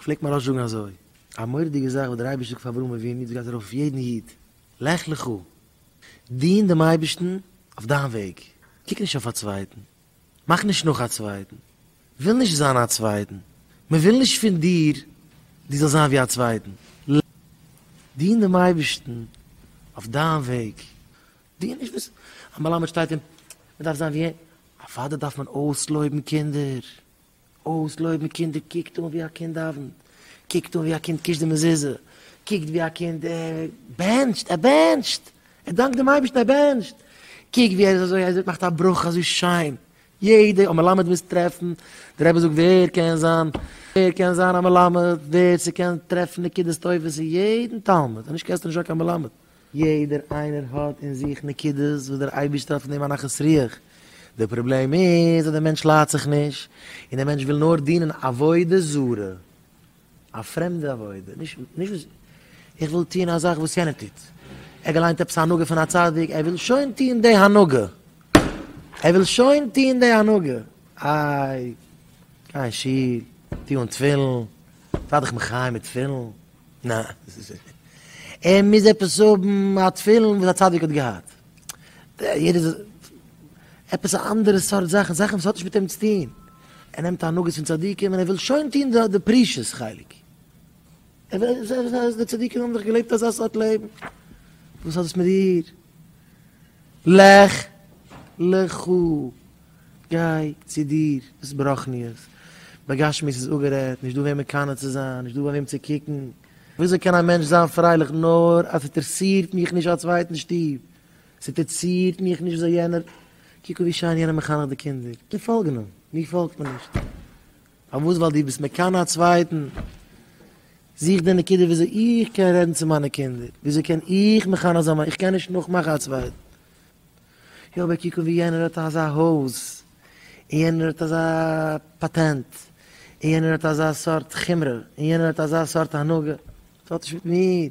פלעגט מיין ראש זאגן אזוי, א מורא'דיגע זאך וואס דער אייבערשטער האט געזאגט פאר אברהם אבינו, יעצט גייט ער ארויף אויף יעדן איד, לך לך, דין דעם אייבערשטן אויף דיין וועג, קוק נישט אויף א צווייטן, מאך נישט נאך א צווייטן, וויל נישט זיין א צווייטן, מען וויל נישט פון דיר דו זאלסט זיין ווי א צווייטן, לך לך, דין דעם אייבערשטן אויף דיין וועג, דו נישט וואס א מלמד שטייט און מען דארף זיין ווי אים, א פאדער דארף מען אויסלויבן קינדער, אויסלויבן קינדער קוקט אן ווי א קינד דאווענט, קוקט אן ווי א קינד קישט די מזוזה, קוקט ווי א קינד בענטשט, ער בענטשט, ער דאנקט דעם אייבערשטן ער בענטשט, קוק ווי ער איז אזוי ער מאכט א ברכה אזוי שיין, יעדע א מלמד מוז טרעפן, דער רבי זאגט ווער קען זיין, ווער קען זיין א מלמד, ווער ס'קען טרעפן נקודות טובות אין יעדן תלמיד, אנישט קענסטו נישט זיין קיין מלמד, יעדער איינער האט אין זיך נקודות וואס דער אייבערשטער האט פון דעם א נחת רוח. דער פראבלעם איז אז דער מענטש לאהט זיך נישט, און דער מענטש וויל נאר דינען עבודה זרה, א פרעמדע עבודה, נישט נישט וואס איך וויל טון א זאך וואס יענער טוט, ער האט געליינט עפעס א הנהגה פון א צדיק, ער וויל שוין טון די הנהגה, ער וויל שוין טון די הנהגה, איי, גיי אין שול, טו אן תפילין, זיי דיך מחיה מיט תפילין. ניין. ער מוז עפעס האבן א תפילין וואס א צדיק האט געהאט. יעדער זאל. עפעס א אנדערע סארט זאכן, זאכן וואס האט נישט מיט אים צו טון. ער נעמט הנהגות פון צדיקים און ער וויל שוין טון די פרישות חלק. ער וויל זען אז די צדיקים האבן דאך געלעבט אזא סארט לעבן. וואס האט דאס מיט דיר? לך לך. גיי צו דיר, דאס ברחניות. בגשמיות איז אפגערעדט, נישט דא וועם מקנא צו זיין, נישט דא ביי וועם צו קוקן. וויאזוי קען א מענטש זיין פרייליך נאר אז ס'אינטערעסירט מיך נישט א צווייטן שטוב, ס'אינטערעסירט מיך נישט וויאזוי יענער, קוק ווי שיין יענער מחנך די קינדער, מיר פאלגן אים, מיר פאלגט מען נישט. פארוואס? ווייל דו ביסט מקנא א צווייטן. זוך די נקודה וויאזוי איך קען רעדן צו מיינע קינדער, וויאזוי קען איך מחנך זיין מיינע, איך קען נישט נאכמאכן א צווייטן. יא אבער קוק אן ווי יענער האט אזא הויז, און יענער האט אזא פאטענט, און יענער האט אזא סארט חומרא, און יענער האט אזא סארט הנהגה, ס'האט נישט מיט מיר,